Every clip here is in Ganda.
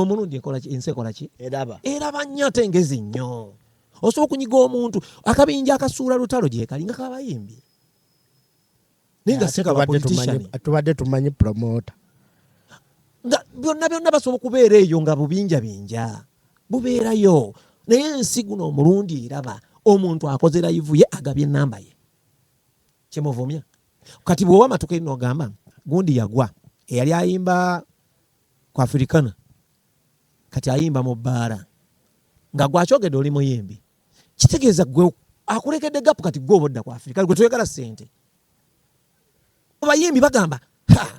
omulungi enkolaki ensi ekolaki eraba eraba nnyo ate ngezi nnyo osobola okunyiga omuntu akabinja akasuula lutalo gyekali nga kabayimbi naye nga sikabatubadde tumanyi promota nga byonna byonna basobola okubeera eyo nga bubinja binja bubeerayo naye ensi guno omulundi eraba omuntu akoze layivu ye agabye enamba ye kyemuvumya kati bwewamatuka eri nogamba gundi yagwa eyali ayimba ku afirikana kati ayimba mu bbaala nga gwakyogedde oli muyimbi kitegeeza gwe akulekedde gapu kati gwe obodda ku afirika gwe toyagala sente abayimbi bagamba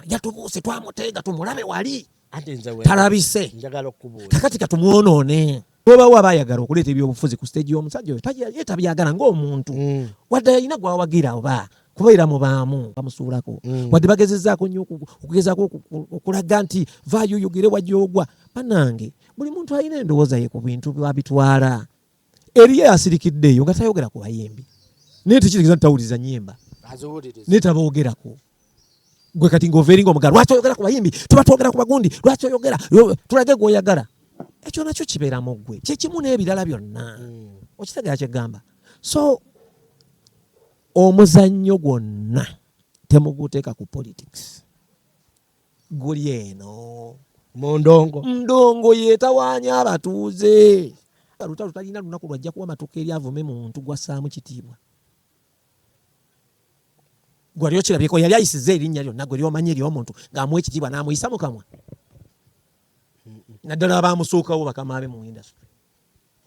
yatubuuse twamuteega tumulabe wali talabise kakati katumwonoone bwebawo aba ayagala okuleeta ebyobufuzi ku siteegi y'omusajja oyo ye tabyagala ng'omuntu mm. wadde yalina gwawagira oba kubeera mu baamu bamusuulako mm. wadde bagezezaako nnyo okugezaako okulaga nti vaayo oyogere wajogwa banange buli muntu alina endowooza ye ku bintu babitwala eriyo asirikiddeeyo nga tayogera ku bayimbi naye tekirigeza nti tawuliza nyimba naye taboogerako gwe kati ng'ova eringa omugala lwaki oyogera ku bayimbi tuba twogera ku bagundi lwaki oyogera tulage gweoyagala ekyo nakyo kibeera mu ggwe kyekimu n'ebirala byonna hmm. okitegera kyegamba so omuzannyo gwonna temuguteeka ku politics guli eno mundongo mundongo yetawaanya abatuuze lutalo talina lunaku lwajja kuwa matuka eri avume muntu gwasaamu kitiibwa gwali okirabyeko yali ayisiza erinnya lyonna gwe lyomanyi eryomuntu ng'amuwa ekitiibwa n'amuyisa mu kamwa naddala abaamusuukawo bakama be mu indasitry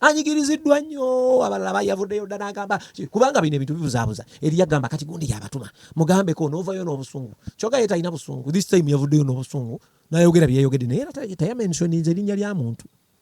anyigiriziddwa nnyo abalala bayavuddeyo dda n'agamba kubanga bino ebintu bibuzaabuza eri yagamba kati gundi yabatuma mugambeko n'ovayo n'obusungu kyoka ye talina busungu this time yavuddeyo n'obusungu n'ayogera byeyogedde naye era tayamensioninze erinnya lya muntu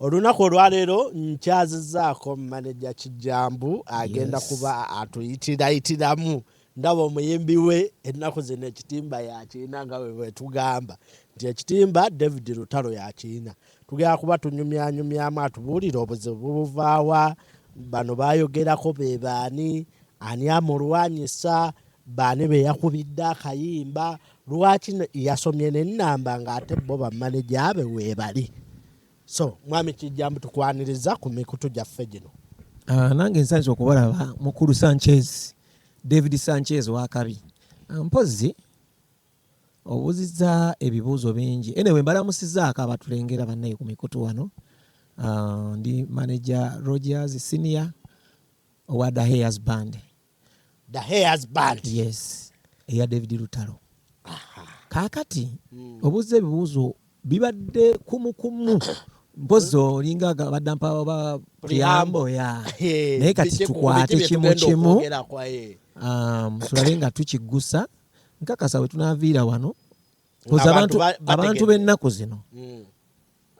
Olunaku olwaleero nkyazizaako maneja Kijjambu agenda yes. kuba atuyitirayitiramu ndaba omuyimbi we ennaku zino ekitimba yakirina nga webwetugamba nti ekitimba david lutalo yakirina tugenda kuba tunyumyanyumyamu atubuulire obuzibu bubuvaawa bano bayogerako bebaani ani amulwanyisa baani beyakubidde akayimba lwaki yasomye nenamba ngaate bo bamaneja be webali so mwami kijjambu tukwaniriza ku mikutu gyaffe gino ah, nange nsanze okubalaba mukulu sanchez david sanchez wakabi ah, mpozzi obuziza ebibuuzo bingi ene we mbalamusizaako abatulengera bannaye ku mikutu wano ah, ndi manager rogers senior owa daheyas band the hairs band yes eya david lutalo kakati hmm. obuuza ebibuuzo bibadde kumukumu mpozi olinga badda mpaba priyambo ya naye kati tukwate kimu kimu um, tulabe nga tukiggusa nkakasa wetunaviira wano abantu b'ennaku zino hmm.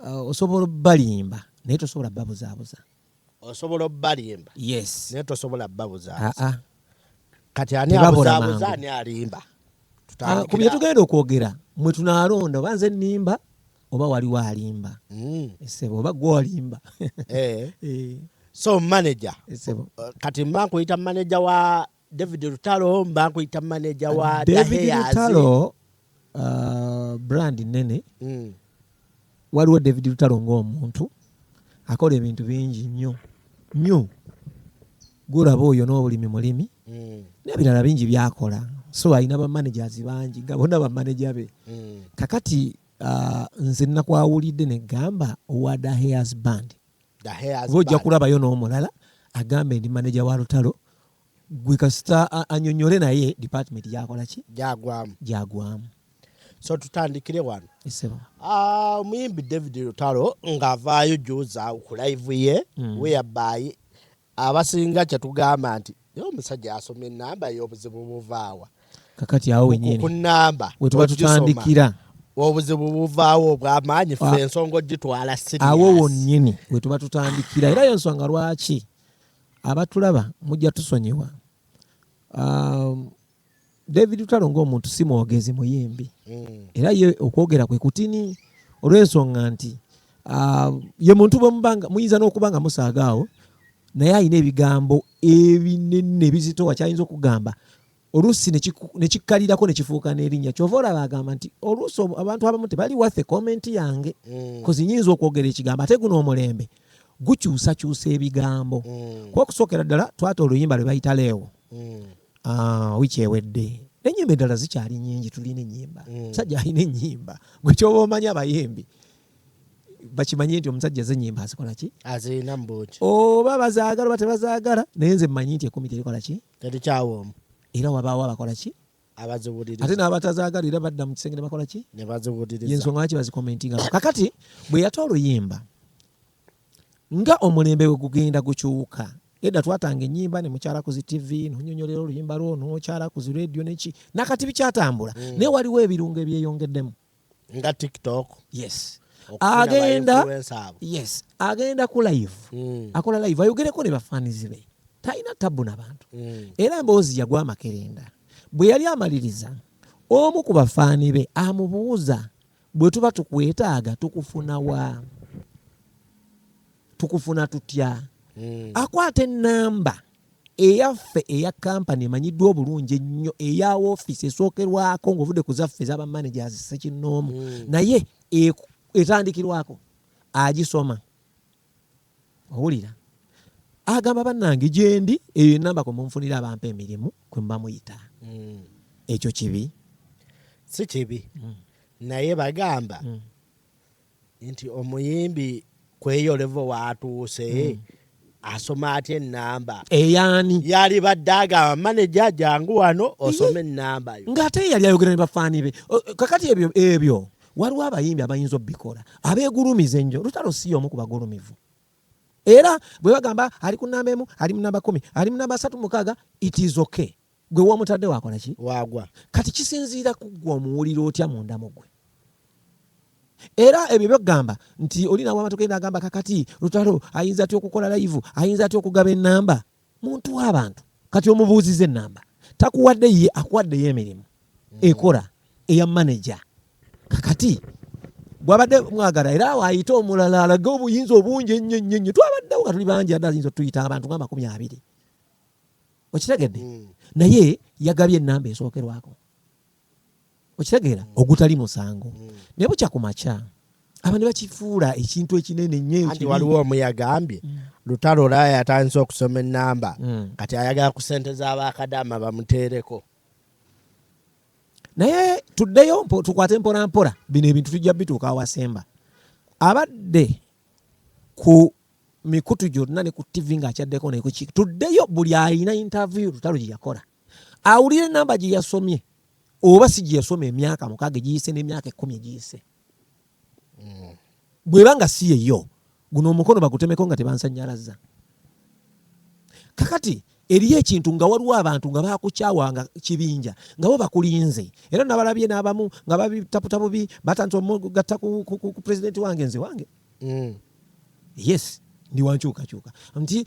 uh, osobola balimba naye tosobola babuzaabuza osobola obalimba yes naye tosobola babuzabuza ah, ah. kati ani abuzabuza ani alimba ah, ku byetugenda okwogera mwe tunalonda oba nze nimba oba waliwo alimba mm. esebo oba gwe olimba eh. eh. so manager esebo kati mba nkuyita manager wa David Lutalo mba nkuyita manager wa uh, David Lutalo uh, brand nene mm. waliwo David Lutalo ng'omuntu akola ebintu bingi nnyo nnyo gulaba oyo n'obulimi mulimi mm. n'ebirala bingi byakola so alina bamanagers bangi nga bona bamaneja be mm. kakati uh, nze nakwawulidde negamba owada hairs band oba ojja kulabayo n'omulala agambe ndi maneja wa lutalo gwe kasita anyonyole naye department gyakola ki gyagwamu gyagwamu so tutandikire wano ah, omuyimbi david lutalo ng'avaayo juza ku live ye mm. weyabaayi abasinga kyetugamba nti naye omusajja asoma enamba yobuzibu buvaawa kakati awo wenyini ku namba wetuba tutandikira obuzibu buvaawo obwamaanyi fe ah. ensonga ogitwala awo wonyini wetuba tutandikira era yensonga lwaki abatulaba mujja tusonyiwa um, David Lutalo ng'omuntu si mwogezi muyimbi mm. era ye okwogera kwe kutini olw'ensonga nti uh, ye muntu bwemubanga muyinza n'okuba nga musaaga awo naye alina ebigambo ebinene ebizitowa kyayinza okugamba oluusi nekikkalirako nekifuuka n'erinnya kyova olaba agamba nti oluusi abantu abamu tebali wathe komenti yange mm. kozi nyinza okwogera ekigambo ate guno omulembe gukyusakyusa ebigambo mm. kuba okusookera ddala twata oluyimba lwe bayita leewo mm. ah, wiki ewedde nenyimba eddala zikyali nyingi tulina enyimba mm. musajja alina enyimba gwe kyoba omanyi abayimbi bakimanye nti omusajja zenyimba azikola ki azirina mubuki oba bazaagala oba tebazaagala naye nze mmanyi nti ekumi terikola ki terikyawomu era wabaawo abakola ki ate n'abatazaagalira badda mu kisenge ne bakola ki yensonga lwaki bazikomentinga kakati bwe yata oluyimba nga omulembe we gugenda gukyuka edda twatanga enyimba ne mukyala ku zi tv nonyonyolera oluyimba lwo nokyala ku zi radio neki nakati bikyatambula mm. naye waliwo ebirungo ebyeyongeddemu nga tiktok yes agenda yes agenda ku live mm. akola live ayogereko ne bafanizi be talina tabbu nabantu mm. era mboozi yagwa amakerenda bwe yali amaliriza omu ku bafaani be amubuuza bwe tuba tukwetaaga tukufuna wa tukufuna tutya mm. akwata enamba Eyaffe eya Kampani emanyiddwa obulungi ennyo eya woofiisi esookerwako ng'ovudde ku zaffe eza bamanagers ssekinnoomu hmm. naye etandikirwako agisoma owulira agamba bannange gyendi eyo enamba kwe munfunira abampa emirimu kwe mba muyita hmm. ekyo kibi si kibi hmm. naye bagamba nti omuyimbi kweyolevo watuuse hmm. asoma atya enamba eyani yali badde agamba maneja jangu wano osome enamba yo ng'ate yali ayogera ne bafaani be kakati ebyo ebyo waliwo abayimbi abayinza obikola abegulumiza ennyo lutalo si y'omu ku bagulumivu era bwe bagamba ali ku namba emu ali mu namba kumi ali mu namba asatu mukaaga it is okay Gwe womutadde wakola ki? Wagwa. Kati kisinziira kuggwa omuwulira otya munda mugwe. Era ebyo byogamba nti oli nawe amatu genda agamba kakati lutalo ayinza atya okukola live ayinza atya okugaba enamba muntu w'abantu kati omubuuziza enamba takuwadde ye akuwaddeyo emirimu mm. ekora eya maneja kakati gwabadde mwagala era awo ayite omulala alage obuyinza obungi ennyo nnyo nnyo twabaddewo nga tuli bangi adde ayinza otuyita abantu nga amakumi abiri okitegedde mm. naye yagabye enamba esookerwako okitegeera mm. ogutali musango mm. naye bukya ku makya aba ne bakifuula ekintu ekinene nyoanti waliwo omu yagambye mm. lutalo olaya yatandise okusoma enamba mm. kati ayagala ku sente z'abakadama bamuteereko naye tuddeyo tukwate mpolampola bino ebintu tujja bituuka awasemba abadde ku mikutu gyonna ne ku ttivi ng'akyaddeko naye kuki tuddeyo buli alina intaviyu lutalo gye yakola awulire namba gye yasomye oba si gye yasoma emyaka mukaaga egiyise n'emyaka ekkumi egiyise hmm. bweba nga si yeyo guno omukono bagutemeko nga tebansanyalaza kakati eriyo ekintu nga waliwo abantu nga bakukyawa nga kibinja nga bo bakulinze era nabalabye n'abamu nga babitaputabubi batandisa omugatta ku pulezidenti wange nze wange mm. yes ndi wankyukakyuka nti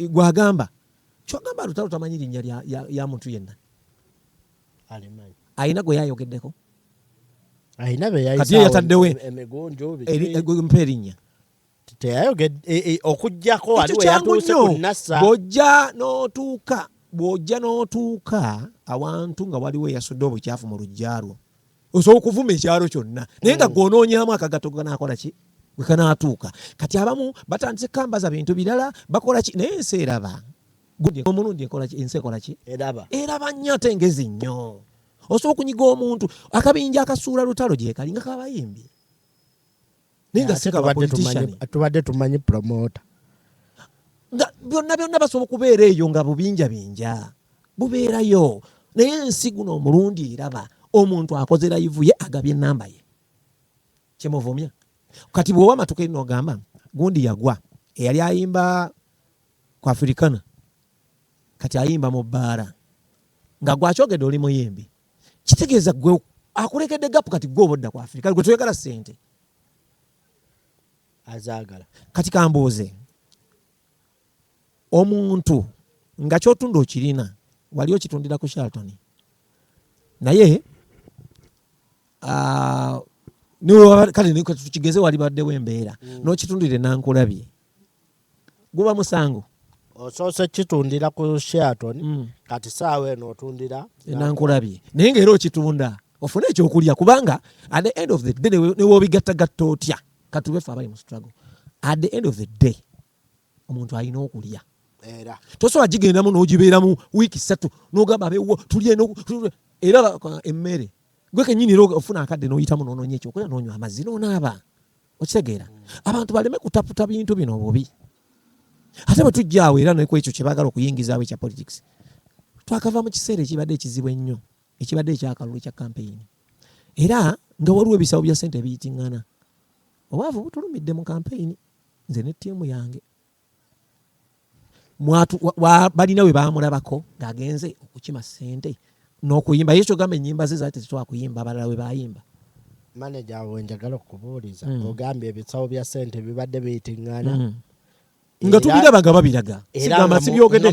gwagamba kyogamba lutalo tamanyi linnya lya, ya, ya muntu yenna alina gwe yayogeddeko kati yataddewo mpa erinnya okujjako bwojja n'otuuka bwojja n'otuuka awantu nga waliwo eyasudde obukyafu mu lujja lwo osobola okuvuma ekyalo kyonna naye nga mm. gwonoonyamu akagato ganaakola ki gwe kanaatuuka kati abamu batandise kambaza bintu birala bakola ki naye ensi eraba omulundi ensi ekola ki eraba nnyo ate ngezi nnyo osobola okunyiga omuntu akabinja akasuula lutalo gyekali nga kabayimbi naye nga si kaba politician tubadde tumanyi promoter nga byonna byonna basobola okubeera eyo nga bubinja binja bubeerayo naye ensi guno omulundi eraba omuntu akoze layivu ye agabye enamba ye kyemuvumya kati bwoba amatuka eri nogamba gundi yagwa eyali ayimba ku afirikana kati ayimba mu bbaala nga gwakyogedde oli muyimbi kitegeeza gwe akulekedde gapu kati gwe obodda ku afirika gwe toyagala sente azaagala kati kambuuze omuntu nga kyotunda okirina wali okitundira ku shalton naye kale tukigeze wali baddewo embeera mm. nokitundire nankulabye guba musango osoose kitundira ku Sheraton mm. kati saawa eno otundira enankulabye naye nga era okitunda ofune ekyokulya kubanga at the end of the day newobigattagatta otya katubefe abali mu struggle at the end of the day omuntu alina okulya era tosobola gigendamu nogibeeramu wiiki satu nogamba abewo tulye era emmere gwe kenyini era ofuna akadde noyitamu nononya ekyokulya nonywa amazzi nonaaba okitegeera abantu baleme kutaputa bintu bino obubi ate bwe tujjaawo era neku ekyo kye baagala okuyingizaawo ekya politics twakava mu kiseera ekibadde ekizibu ennyo ekibadde ekyakalulu ekya kampeyini era nga waliwo ebisawo bya sente ebiyitingana obwavu butulumidde mu kampeyini nze ne ttiimu yange balina we baamulabako ng'agenze okukima ssente n'okuyimba ye kyogamba ennyimba ze zaali tezitwala kuyimba abalala we baayimba maneja awo njagala okubuuliza mm. ogambye ebisawo bya ssente bibadde biyitingana mm. nga tubiraba nga babiraga sigamba sibyogedde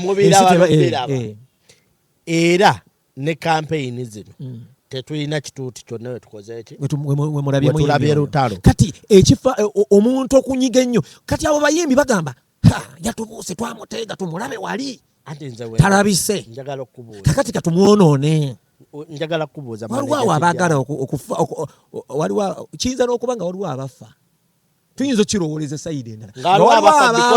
era ne kampeyini zino mm. tetulina kituuti kyonna wetukozeekiwetulabye lutalo kati ekifa e, omuntu okunyiga ennyo kati abo bayimbi bagamba yatubuuse twamuteega tumulabe wali talabise kakati katumwonoone njagala kukubuuza waliwo abaagala okufa waliwo kiyinza n'okuba nga waliwo abafa tuyinza okirowooleza sayidi endala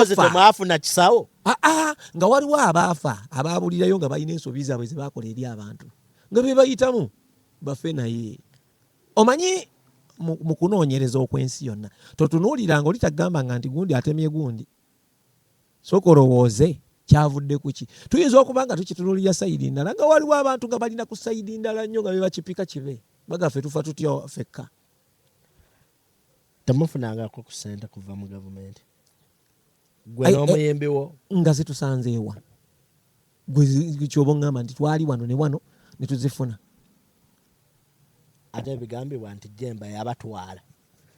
temwafuna kisawo ah, ah, nga waliwo abaafa abaabulirayo nga balina ensobi zaabwe ze bakola eri abantu nga be bayitamu bafe naye omanyi mu kunoonyereza okw'ensi yonna totunuuliranga oli tagamba nga nti gundi atemye gundi sooka olowooze kyavudde kuki tuyinza okuba nga tukitunulira sayidi ndala nga waliwo abantu nga balina ku sayidi ndala nnyo nga bebakipika kibe bagafe tufa tutya fekka temufunangako ku sente kuva mu gavumenti gwe Ai, eh, n'omuyimbi wo nga zitusanzeewa gwe kyoba oŋŋamba nti twali wano ne wano ne tuzifuna ate ebigambibwa nti jemba yabatwala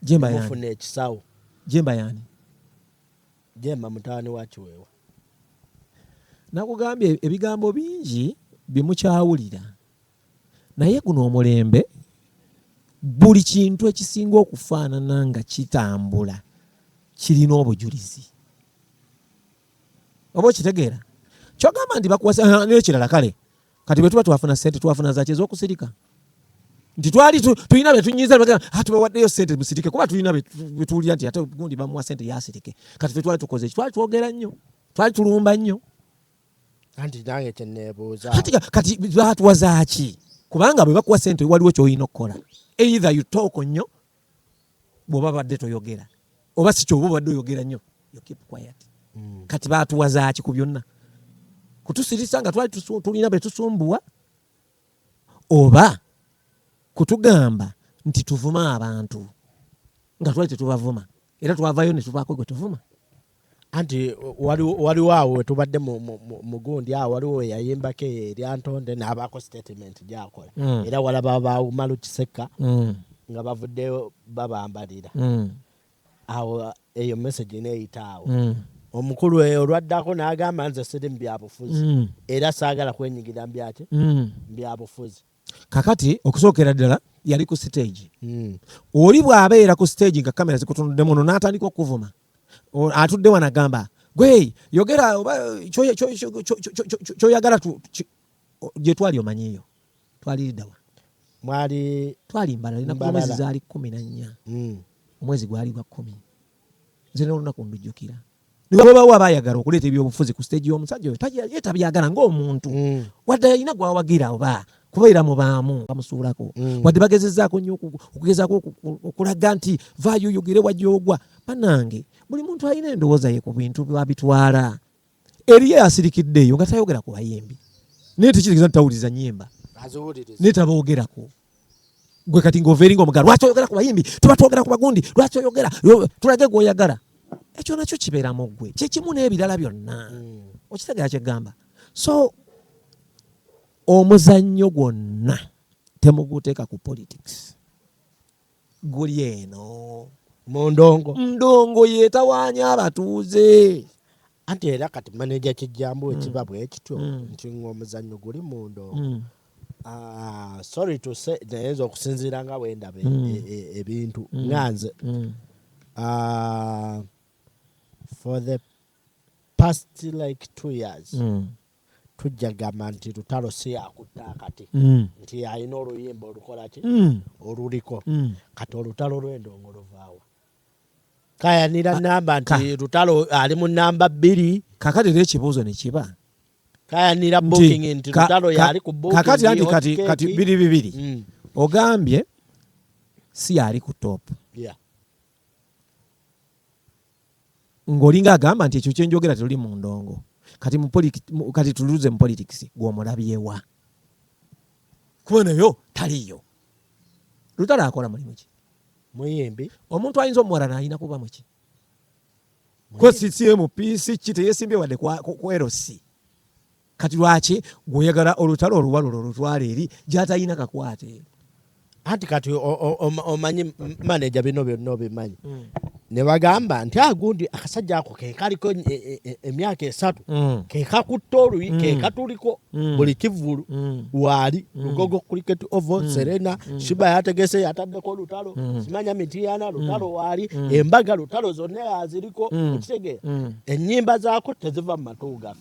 jemba yani mufuna ekisawo jemba yani jemba mutaani wa kiweewa nakugambye ebigambo bingi byemukyawulira Naye guno omulembe buli kintu ekisinga okufaanana nga kitambula kirina obujulizi oba okitegeera kyogamba nti bakuwasa nekirala kale kati bwetuba twafuna sente twafuna zaki ezokusirika nti twali tulina betunyiza ah, tubawaddeyo sente musirike kuba tulina betuwulira nti ate gundi bamuwa sente yasirike kati fetwali tukoze twali twogera nnyo twali tulumba nnyo anti nange kyenebuuza kati batwazaaki kubanga bwe bakuwa sente waliwo kyolina okukola either you talk nnyo bwoba badde toyogera oba si kyoba obadde oyogera nnyo you keep quiet mm. kati batuwazaaki ku byonna kutusirisa nga twali tulina betusumbuwa oba kutugamba nti tuvuma abantu nga twali tetubavuma era twavayo ne tuvaako gwe tuvuma anti waliwo awo wetubadde mugundi awo waliwo weyayimbako eyo eryantonde n'abaako statement gyakola mm. era walaba bawumalu kisekka mm. nga bavuddeyo babambalira mm. awo eyo message neeyita awo omukulu eyo olwaddako n'agamba nze siri mu byabufuzi era saagala kwenyigira mubyaki byabufuzi kakati okusookera ddala yali ku siteegi hmm. oli bw'abeera ku siteegi nga kamera zikutunuddemu no n'atandika okukuvuma atudde wano agamba gwe yogera oba kyoyagala gye twali omanyiyo twaliriddawa mwali twali mbalala linaku omwezi zaali kumi na nnya hmm. omwezi gwali gwa kumi nze n'olunaku ndujjukira newabawo abayagala okuleeta ebyobufuzi ku stage y'omusajja oyo ye tabyagala ng'omuntu mm. wadde alina gwawagira oba kubeera mu baamu bamusuulako mm. wadde bagezezaako nnyo okugezaako okulaga nti vaayo oyogere wajja ogwa banange buli muntu alina endowooza ye ku bintu babitwala eriyo asirikiddeeyo nga tayogera ku bayimbi naye tekitegeeza nti tawuliriza nyimba naye taboogerako gwe kati ng'overinga omugala lwaki oyogera ku bayimbi tuba twogera ku bagundi lwaki oyogera tulage gweoyagala ekyo nakyo kibeera mu ggwe kyekimu n'ebirala byonna hmm. okitegera kyegamba so omuzannyo gwonna temuguteeka ku politics guli eno mu ndongo ndongo yetawaanya abatuuze anti era kati maneja kijjambu ekiba mm. bwe kityo mm. nti ng'omuzannyo guli mu ndongo mm. ah, sorry to say naye nze okusinziira nga wendaba e, e, e, ebintu nga nze ah, for the past like two years tujja gamba nti lutalo si yakutta akati mm. nti alina oluyimba olukolaki mm. oluliko mm. kati olutalo lwendongo luvaawa kayanira namba nti lutalo ali mu namba bbiri kakati era ekibuuzo nekiba kayanira booking nti lutalo yali ku booking kakati anti kati kati biri bibiri mm. ogambye si yali ku top yeah. ng'olinga agamba nti ekyo kyenjogera tetuli mu ndongo kati kati tuluze mu politics gw'omulabyewa kuba nayo taliyo lutalo akola mulimu ki muyimbi omuntu ayinza omuwalana alina kuba muki ko ccmp si ki teyesimbye wadde kwerosi Kati lwaki gwoyagala olutalo oluwalo lwo lutwala eri gyatalina kakwate? Anti kati omanyi maneja bino byonna obimanyi mm. ne bagamba nti agundi ah, akasajja ako kekaliko e, e, e, emyaka esatu mm. kekakutte oluyi mm. kekatuliko mm. buli kivulu waali lugogo cricket ovo serena shiba yategese yataddeko lutalo simanya mitiyana lutalo waali embaga lutalo zonna aziriko ekitegeera ennyimba zaako teziva mu matu gaffe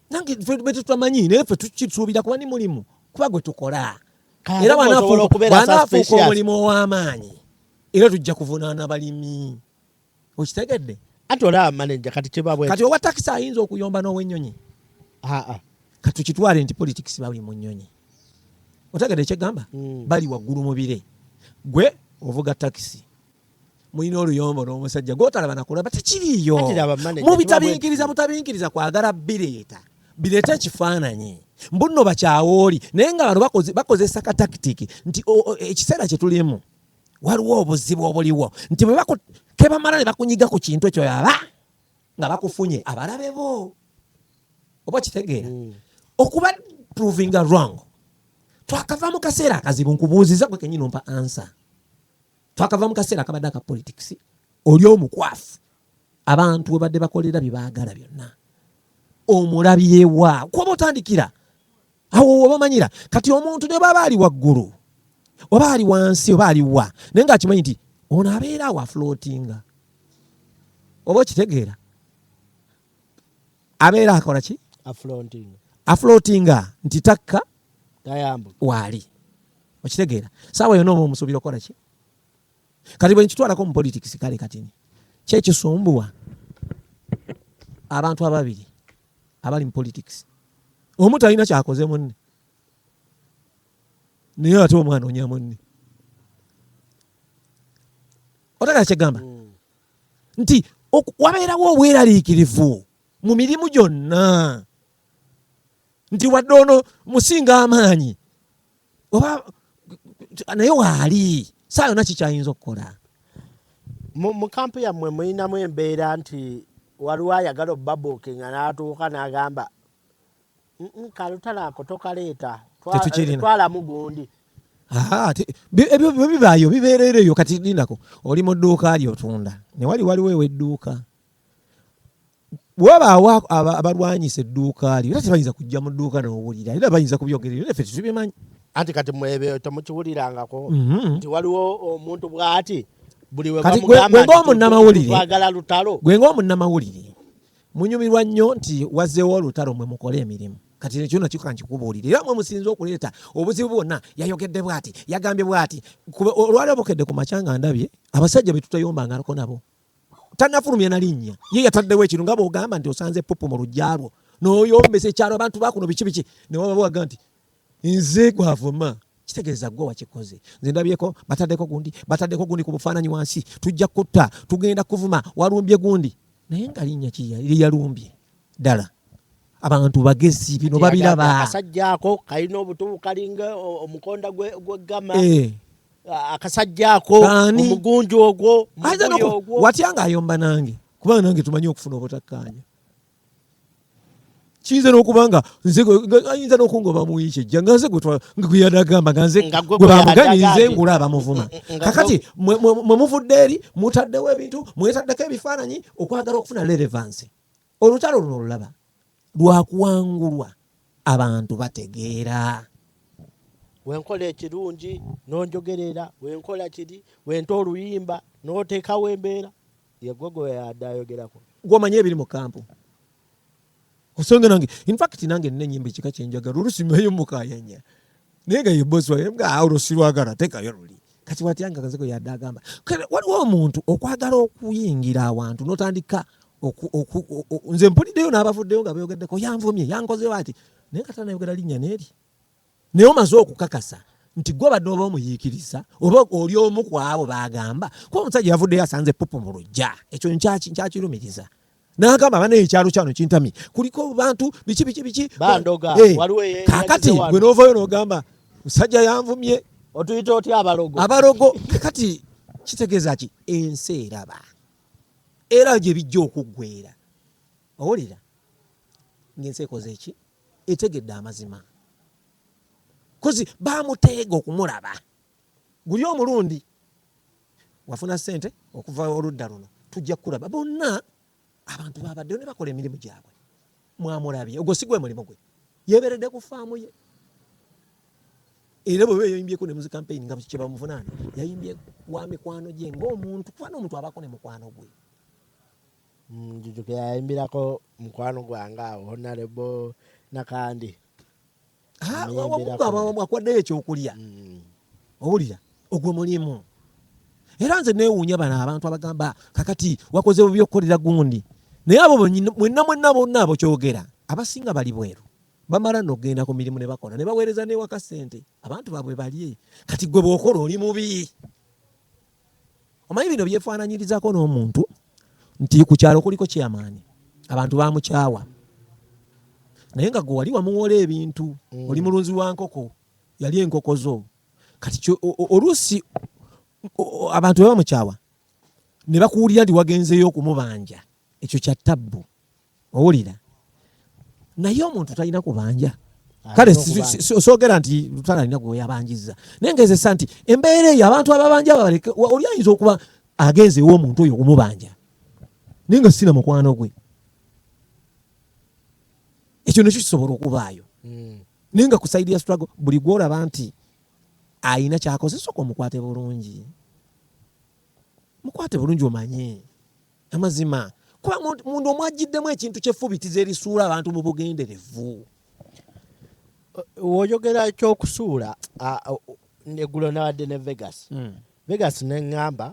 nange betetutamanyi naye fe tukisuubira kuba ni mulimu kuba gwe tukola era banafuuka omulimu ow'amaanyi era tujja kuvunaana balimi okitegedde ati olaba maneja kati kibabwe kati owa takisi ayinza okuyomba n'owenyonyi katukitwale nti politics bali mu nyonyi otegedde kyegamba mm. bali waggulu mubire gwe ovuga takisi mulina oluyombo n'omusajja gwotalaba nakulaba tekiriiyo mubitabinkiriza mutabinkiriza kwagala bireeta bireeta ekifaananyi mbunno bakyawooli naye nga bano bakozesa katakitiki nti ekiseera kye tulimu waliwo obuzibu obuliwo nti kebamala ne bakunyiga ku kintu ekyo yaba nga bakufunye abalabe bo oba kitegeera mm. okuba provinga wrong twakava mu kaseera akazibu nkubuuziza gwe kenyini ompa ansa twakava mu kaseera akabadde aka politics oli omukwafu abantu webadde bakolera byebaagala byonna omulabyewa kuba otandikira awo wobamanyira kati omuntu ne baba ali waggulu oba ali wansi oba aliwa naye nga akimanyi nti ono abeera awo aflotinga oba okitegeera abeera akola ki aflotinga nti takka waali okitegeera saawa yona oba omusuubira okukola ki kati bwe nkitwalako mu politics kale katini kyekisumbuwa abantu ababiri abali mu politics omu talina kyakoze munne naye ate omwana onya munne otakala kyegamba mm. nti wabeerawo obweraliikirivu mu mirimu gyonna nti wadde ono musinga amaanyi oba naye waali saa yona kikyayinza okukola mu kampu yammwe mulinamu embeera nti waliwo ayagala obubabuukinga n'atuuka n'agamba kalutalo ako tokaleeta twalamu gundi ebyo bibaayo bibeerera eyo kati lindako oli mu dduuka lyo otunda ne wali waliwo ewedduuka wabaawo abalwanyisa edduuka lyo era tebayinza kujja mu dduuka nowulira era bayinza kubyogerera era ffe tetubimanyi anti kati mwebyo temukiwulirangako mhm. nti waliwo omuntu bwati buli webamugambanti twagala lutalo gwe ngaomunnamawulire Munyumirwa nnyo nti wazzeewo olutalo mwe mukole emirimu kati ekyo nakyo kankikubuulire era mwe musinze okuleeta obuzibu bwonna yayogedde bwati yagambye bwati olwaleo bukedde ku makya nga ndabye abasajja be tutayombangako nabo tanafulumya na linnya ye yataddewo ekintu nga bwogamba nti osanze pupu mu lujja lwo noyombesa ekyalo abantu bakuno biki biki newabawaga nti nze gwavuma kitegeeza gwe wakikoze nze ndabyeko bataddeko gundi bataddeko gundi ku bufaananyi wansi tujja kutta tugenda kuvuma walumbye gundi naye nga linnya kiyalumbye ddala abantu bagezi bino babiraba akasajja ako kalina obutubu kalinga omukonda gwegama eh. akasajja ako omugunju ogwo watya nga ayomba nange kubanga nange tumanyi okufuna obutakkaanya kiyinza n'okuba nga ayinza n'okungoba mu wiiki ejja nga nze gweyada agamba nga nze gwe bamuganye nze ngula abamuvuma mm, mm, mm, kakati mwe muvudde eri mutaddewo ebintu mwetaddeko ebifaananyi okwagala okufuna lerevansi olutalo luno olulaba lwakuwangulwa abantu bategeera wenkola ekirungi nonjogerera wenkola kiri wenta oluyimba notekawo embeera yegogo yada ayogerako gwomanyi ebiri mu kampu osanga nange infact nange nina enyimba ekika kyenjagala olusi meyo mukayanya naye nga yeboswaolosirwagala tekayo luli kati watyanga kazeko yadde agamba waliwo omuntu okwagala okuyingira awantu notandika nze mpuliddeyo n'abavuddeyo nga beyogeddeko yanvumye yankozeyo ati naye kata nayogera linnya neeri Naye omaze okukakasa nti gwe obadde oba omuyiikiriza oba oli omu ku abo baagamba kuba omusajja yavuddeyo asanze ppupu mu lujja ekyo nkyakirumiriza nagamba bana ekyalo kyano kintamye kuliko bantu biki biki biki eh, kakati gwe novayo nogamba musajja yanvumye otuyita otya abalogo abalogo kakati kitegeeza ki ensi eraba era gye bijja okuggwera owulira ngaensi ekoze eki etegedde amazima kozi bamuteega okumulaba guli omulundi wafuna sente okuva oludda luno tujja kukulaba bonna abantu babaddeyo ne bakola emirimu gyabwe mwamulabye ogwo si gwe mulimu gwe yeberedde ku faamu ye era bweba yayimbyeko ne muzi kampeyini nga kyebamuvunaana yayimbye wa mikwano gye ngaomuntu kubana omuntu abako ne mukwano gwe njujukira yayimbirako mukwano gwange awo honarebo nakandi akuwaddeyo ekyokulya mm. owulira ogwo mulimu era nze newuunya bano abantu abagamba kakati wakoze bubi okukolera gundi naye abo mwenna mwenna bonna abo kyogera abasinga bali bweru bamala nogenda ku mirimu ne bakola ne baweereza newaka sente abantu babwe balye kati gwe bwokola oli mubi Omanyi bino byefaananyirizako n'omuntu nti ku kyalo kuliko kyamaani abantu bamukyawa naye nga gwe wali wamuwola ebintu mm. oli mulunzi wa nkoko yali enkoko zo kati oluusi abantu bebamukyawa ne bakuwulira nti wagenzeyo okumubanja ekyo kya tabbu owulira naye omuntu talina kubanja kale sogera nti lutala alina gweyabanjiza naye ngezesa nti embeera eyo abantu ababanja babaleke oli ayinza okuba agenzeewo omuntu oyo okumubanja naye nga sina mukwano gwe ekyo nekyo kisobola okubaayo hmm. naye nga kusaidi ya struggle buli gwolaba nti ayina kyakoze soka omukwate bulungi mukwate bulungi omanye Amazima. Kuba munda omwajjiddemu ekintu ky'effubitizi erisuula abantu mu bugenderevu. Woyogera eky'okusuula eggulo nabadde ne Vegas. Hmm. Vegas ne ŋŋamba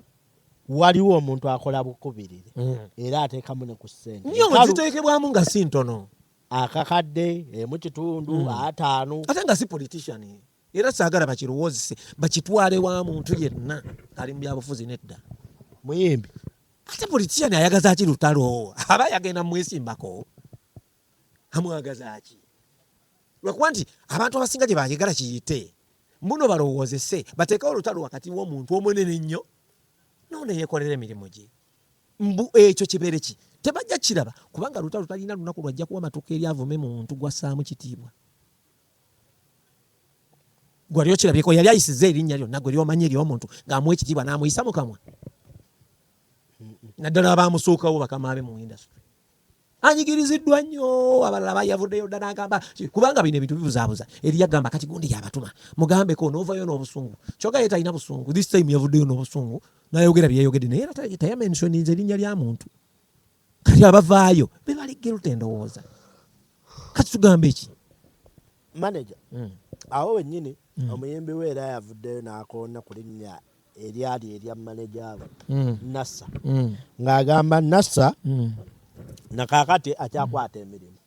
waliwo omuntu akola bukubirire hmm. era ateekamu ne ku ssente. Nyo ziteekebwamu nga si ntono. akakadde emu kitundu hmm. ataano ate nga si politician era saagala bakirowoozese bakitwale wa muntu yenna ali mu byabufuzi nedda muyimbi ate politician ayagaza ki lutalo aba yagenda mwesimbako amwagaza ki lwakuba nti abantu abasinga gye bagegala kiyite mbuno balowoozese bateekewo olutalo wakati w'omuntu omunene nnyo noona yeekolera emirimu gye mbu ekyo kibeere ki tebajja kiraba kubanga lutalo talina lunaku lwajja kuwa matuka eri avume muntu gwassaamu kitiibwa gwali okirabyeko yali ayisiza erinnya lyonna gwe lyomanyi eryomuntu ng'amuwa ekitiibwa n'amuyisa mu kamwa naddala abaamusuukawo bakama be mu industry anyigiriziddwa nnyo abalala bayavuddeyo dda n'agamba kubanga bino ebintu bibuzaabuza eri yagamba kati gundi yabatuma mugambeko n'ovayo n'obusungu kyoka ye talina busungu this time yavuddeyo n'obusungu nayogera byeyogedde naye era tayamensioninze erinnya lya muntu kati abavaayo bebali guilt endowooza kati tugamba eki manaja hmm. awo wenyini hmm. omuyimbi we era yavuddeyo nakoona ku linnya eryali erya manaja we hmm. nasa ng'agamba nasa nakakati akyakwata emirimu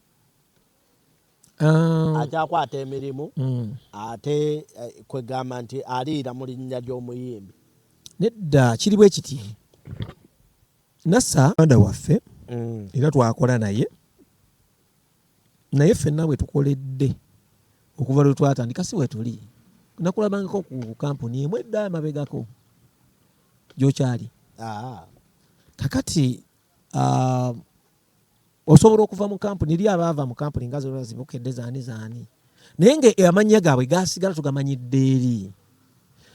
ah. akyakwata emirimu ate eh, kwegamba nti aliira mu linnya ly'omuyimbi nedda kiri bwe kiti Nasa muganda waffe mm. era twakola naye naye ffenna bwe tukoledde okuva lwe twatandika si wetuli nakulabangako ku kampuni emu edda amabegako gyokyali ah. kakati uh, osobola okuva mu kampuni li abaava mu kampuni nga zona zibukedde zaani zaani naye nga amannya gaabwe gasigala tugamanyidde eri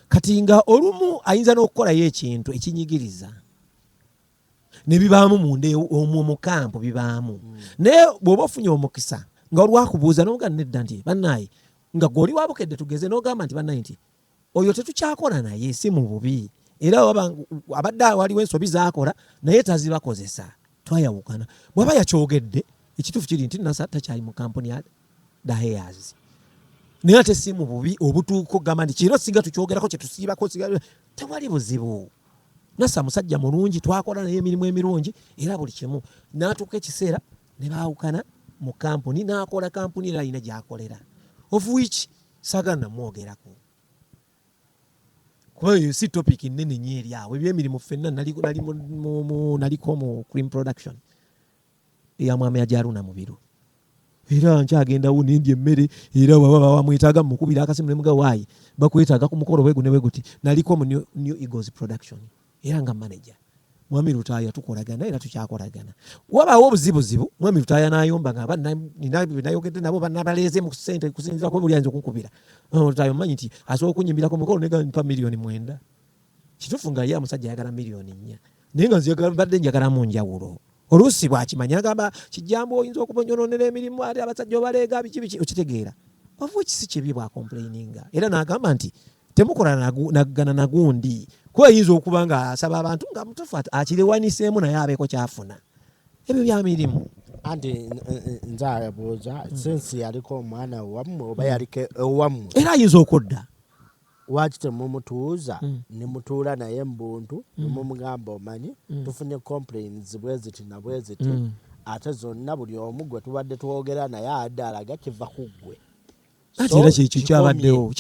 kati nga olumu ayinza n'okukolayo ekintu ekinyigiriza nebibaamu munda e, omwo mu kampu bibaamu mm. naye bw'oba ofunye omukisa nga olwakubuuza nomugaa nedda nti banaye nga gwoli wabukedde tugeze nogamba nti banaye nti oyo tetukyakola naye si mu bubi era abadde waliwo ensobi zakola naye tazibakozesa twayawukana bwaba yakyogedde ekituufu kiri nti nasa takyali mu kampuni ya daheyazi naye ate si mu bubi obutuuko gamba nti kiro singa tukyogerako kyetusiibako tewali buzibu nasa musajja mulungi twakola naye emirimu emirungi era buli kimu natuuka ekiseera ne baawukana mu kampuni n'akola kampuni era alina gy'akolera of which sagala namwogerako kuba eyo si topic nnene nyo eri awo ebyemirimu ffenna naliko mu cream production eya mwami ajaruna mubiru era nkyagendawo nendya emmere era wabamwetaaga mumukubira akasimu nemuga waayi bakwetaaga ku mukolo bwegu ne bweguti naliko mu new eagles production era nga manager mwami lutaaya tukolagana era tukyakolagana wabaawo obuzibuzibu mwami lutaaya nayomba nga abanayogedde nabo banabaleeze mu sente kusinzirako buli ayinza okunkubira lutaaya omanyi nti asobola okunyimbirako mukolo negampa miliyoni mwenda kituufu nga ye amusajja ayagala miliyoni nnya naye nga nzibadde njagalamu njawulo oluusi bwakimanya agamba kijambo oyinza okubonyononera emirimu ate abasajja obaleega biki biki okitegeera of which si kibi bwakomplaininga era nagamba nti temukola nagana nagundi kuba ayinza okuba nga asaba abantu nga mutufu akirewaniseemu naye abeeko kyafuna ebyo byamirimu anti eh, eh, nze abuuza sensi yaliko omwana wammwe oba yaliko ewammwe era ayinza okudda Lwaki temumutuuza nemutuula naye mubuntu nemumugamba omanyi tufunye complains bweziti nabweziti ate zonna buli omu gwetubadde twogera naye abadde alaga kiva kuggwe anti era kyekyo kyabaddewo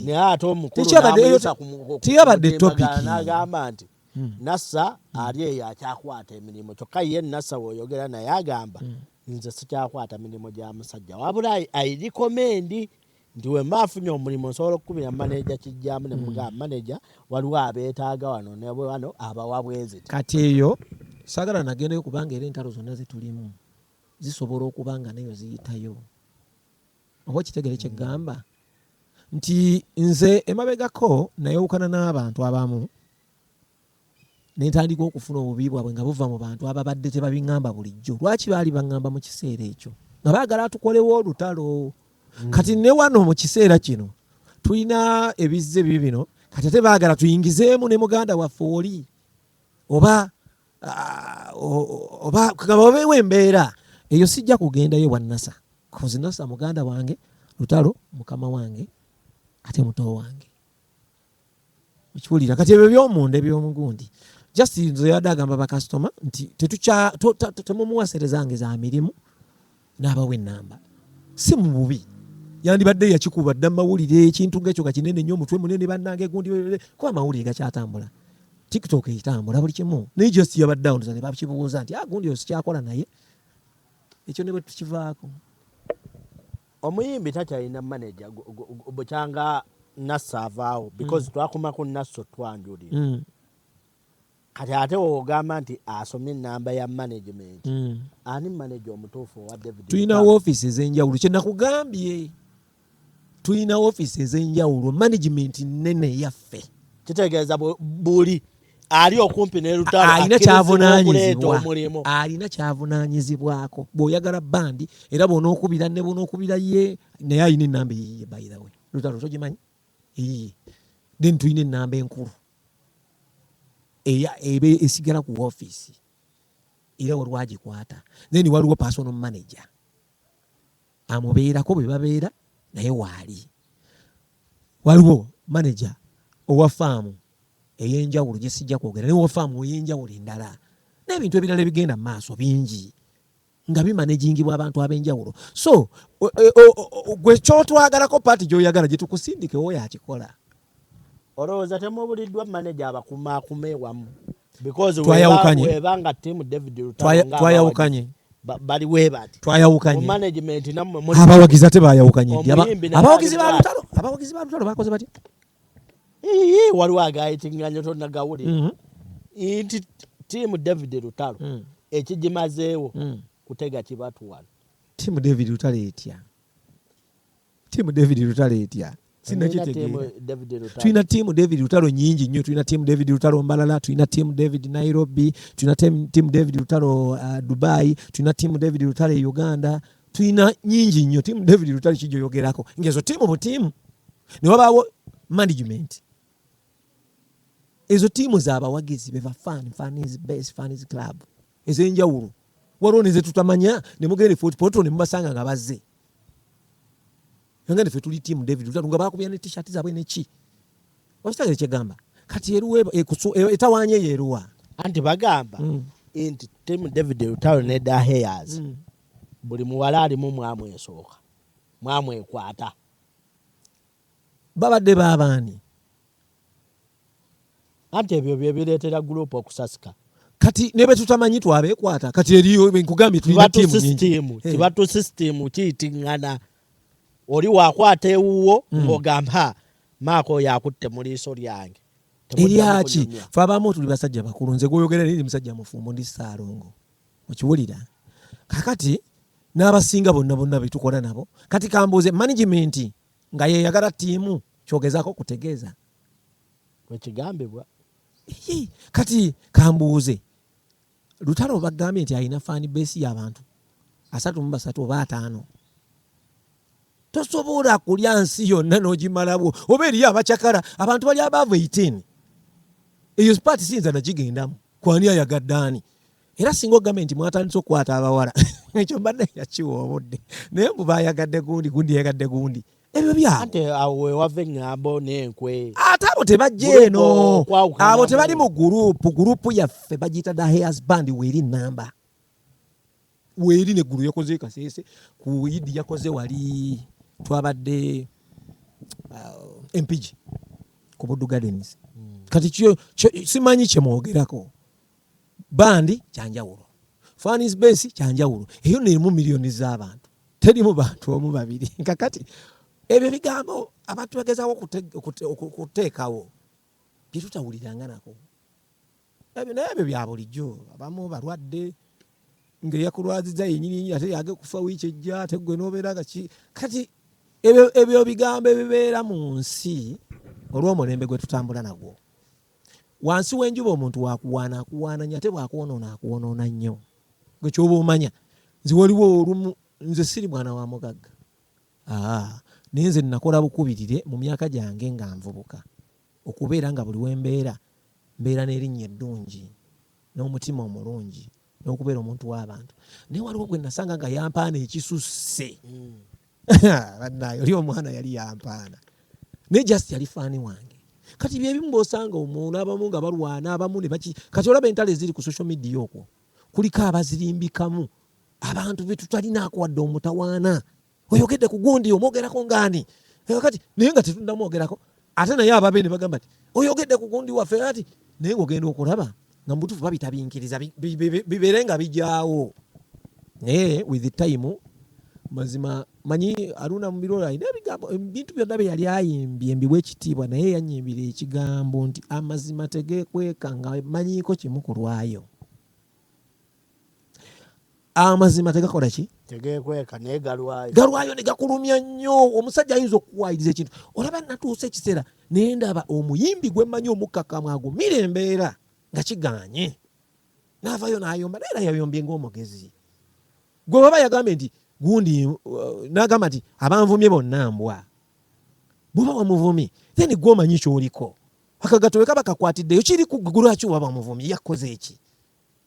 naye ate omukuluteyabadde topiknagamba nti hmm. nasa hmm. ali eyo akyakwata emirimu kyokka ye nasa woyogera naye agamba hmm. nze sikyakwata mirimu gya musajja wabula airikomendi nti wemba afunye omulimu nsobola okukubira maneja kijjamu ne mugamba hmm. maneja waliwo abeetaaga wano ne wano abawa bwezi kati eyo sagala nagendayo kubanga era entalo zonna zetulimu zisobola okuba nga nayo ziyitayo oba ekitegere kyegamba hmm. nti nze emabegako nayewukana n'abantu abamu Ne ntandika okufuna obubi bwabwe nga buva mu bantu ababadde tebabiŋŋamba bulijjo. Lwaki baali baŋŋamba mu kiseera ekyo? Nga baagala atukolewo olutalo. Hmm. Kati ne wano mu kiseera kino tulina ebizze bibi bino, kati ate baagala tuyingizeemu ne muganda waffe oli oba ah, oba kugamba obeewo embeera eyo sijja kugendayo wa nasa kozi nasa muganda wange lutalo mukama wange ate muto wange okiwulira kati ebyo byomunda ebyomugundi just nze yadde agamba bakasitoma nti temumuwaserezange za mirimu n'abawa enamba si mu bubi yandibadde yakikuba dda mumawulire ekintu ngaekyo kakinene nyo omutwe munene bannange gundi kuba amawulire gakyatambula tiktok etambula buli kimu naye just yabadde awo ne bakibuuza nti agundi ah, osikyakola naye ekyo ne bwe tukivaako Omuyimbi takyalina manager bukyanga Nasso avaawo mm. because twakuma ku Nasso twanjulira mm. kati ate wogamba nti asomye enamba ya management mm. ani manager omutuufu owa David tulina office ezenjawulo kyenakugambye tulina office ezenjawulo management nene yaffe kitegeeza buli ali okumpi ne lutalo alina kyavunanyizibwa alina kyavunanyizibwako bwoyagala bandi era bwonaokubira ne bwonaokubira ye naye alina enamba eyiye by the way lutalo togimanyi eyiye then tulina enamba enkulu ebe esigala ku ofiisi era waliwo agikwata then waliwo personal manager amubeerako bwe babeera naye waali waliwo maneja owa faamu ey'enjawulo gye sijja kwogera naye owa faamu ey'enjawulo endala n'ebintu ebirala ebigenda mu maaso bingi nga bimanejingibwa abantu ab'enjawulo so gwe kyotwagalako paati gy'oyagala gye tukusindikewo yakikola olowooza temubuliddwa maneja abakumaakuma ewamu twayawukanye bali webati twayawukanye management namwe muli abawagizi ate bayawukanye abawagizi ba lutalo abawagizi ba lutalo bakoze bati ee waliwo agayitinganya tonagawulira mhm. nti tiimu david lutalo mm. ekigimazeewo mm. kutega kibatuwano tiimu david lutalo etya tiimu david lutalo etya tulina tiimu david lutalo nyingi nnyo tulina tiimu david lutalo mbalala tulina tiimu david nairobi tulina tiimu david lutalo uh, dubai tulina tiimu david lutalo e uganda tulina nyingi nnyo tiimu david lutalo kijoyogerako ngaezo tiimu butiimu newabaawo management ezo tiimu zabawagizi beva fan fan is best fan is club ezenjawulo waliwo nezetutamanya nemugenda e fort portal nemubasanga nga bazze nangane fe tuli team david lutalo nga bakubya ne t-shirt zabwe neki okitegere kyegamba kati eruwa e, e, etawanya eyo eruwa anti bagamba mm. nti team david lutalo ne da hayers mm. buli muwala alimu mwamwesooka mwamwekwata Babadde ba baani? Anti ebyo bye bireetera guruupu okusasika. Kati ne bwe tutamanyi twabeekwata kati eriyo nkugambye tulina tiimu nyingi. Kiba tu sisitiimu kiyitingana. Oli wakwata ewuwo hmm. ng'ogamba ha maaka oyo akutte mu liiso lyange. Eryaki? Fe abamu tuli basajja bakulu. Nze gw'oyogera naye ndi musajja mufumbo ndi Ssaalongo. Okiwulira? Kakati n'abasinga bonna bonna be tukola nabo. Kati kambuuze management nga yeyagala tiimu kyogezako kutegeeza wekigambibwa kati kambuuze lutalo bagambye nti alina fani besi yabantu asatu mu basatu oba ataano tosobola kulya nsi yonna nogimalabwo oba eriyo abacakala abantu bali abaavu 18 eyo sipaati siyinza nagigendamu kwani ayagadde ani era singa ogambe nti mwatandise okukwata abawala ekyo mbadde yakiwa obudde naye mbu bayagadde gundi gundi yagadde gundi ebyo byabowewava eŋŋambo n'enkwe ate abo tebajja eno abo tebali mu gurupu gurupu yaffe bagiyita the hairs band weeri namba weeri neggulu yakoze kasese ku idi yakoze wali twabadde uh, empigi ku buddu gardens hmm. kati simanyi kyemwogerako bandi kyanjawulo fans base kyanjawulo eyo nerimu miliyoni z'abantu terimu bantu omu babiri kakati ebyo bigambo abantu bagezawo okuteekawo byetutawuliranga nako ebyo naye ebyo bya bulijjo abamu balwadde ngaeyakulwaziza yenyini ate yage kufa wiiki ejja ate gwe nobeera nga ki kati ebyo bigambo ebibeera mu nsi olw'omulembe gwe tutambula nagwo wansi w'enjuba omuntu wakuwaana akuwaana nyo ate bwakwonoona akwonoona nnyo gwe kyoba omanya nze waliwo olumu nze siri mwana wa mugagga naye nze nakola bukubirire mu myaka gyange nga nvubuka okubeera nga buli wembeera mbeera n'erinnya eddungi n'omutima omulungi n'okubeera omuntu w'abantu naye waliwo gwe nasanga nga yampaana ekisusse hmm. bannaayo oli omwana yali yampaana naye just yali faani wange kati byebimu bosanga omuntu abamu nga balwana abamu nebaki kati olaba entalo eziri ku social media okwo kuliko abazirimbikamu abantu betutalinaako wadde omutawaana oyogedde ku gundi omwogerako ngaani eh, kati naye nga tetunnamwogerako ate naye ababe ne bagamba ti oyogedde ku gundi waffe ati naye ngaogenda okulaba nga mubutufu babitabinkiriza bibeere nga bijaawo naye with time mazima manyi aruna mubirolo alina ebigambo ebintu byonna bye yali ayimbye mbiwa ekitiibwa naye yanyimbira ekigambo nti amazima tegekweka nga manyiiko kimu ku lwayo amazima tegakola ki tegekweka naye galwayo galwayo ne gakulumya nnyo omusajja ayinza okukuwayiriza ekintu olaba natuusa ekiseera naye ndaba omuyimbi gwe mmanyi omukkakkamu agumira embeera nga kiganye naavayo nayomba naye era yayombye ngaomugezi gwe baba yagambye nti gundi uh, nagamba nti abanvumye bonna mbwa bwoba wamuvumye then gwe omanyi kyoliko akagatowe kaba kakwatiddeyo kiri ku gulwaki waba wamuvumye yakoze eki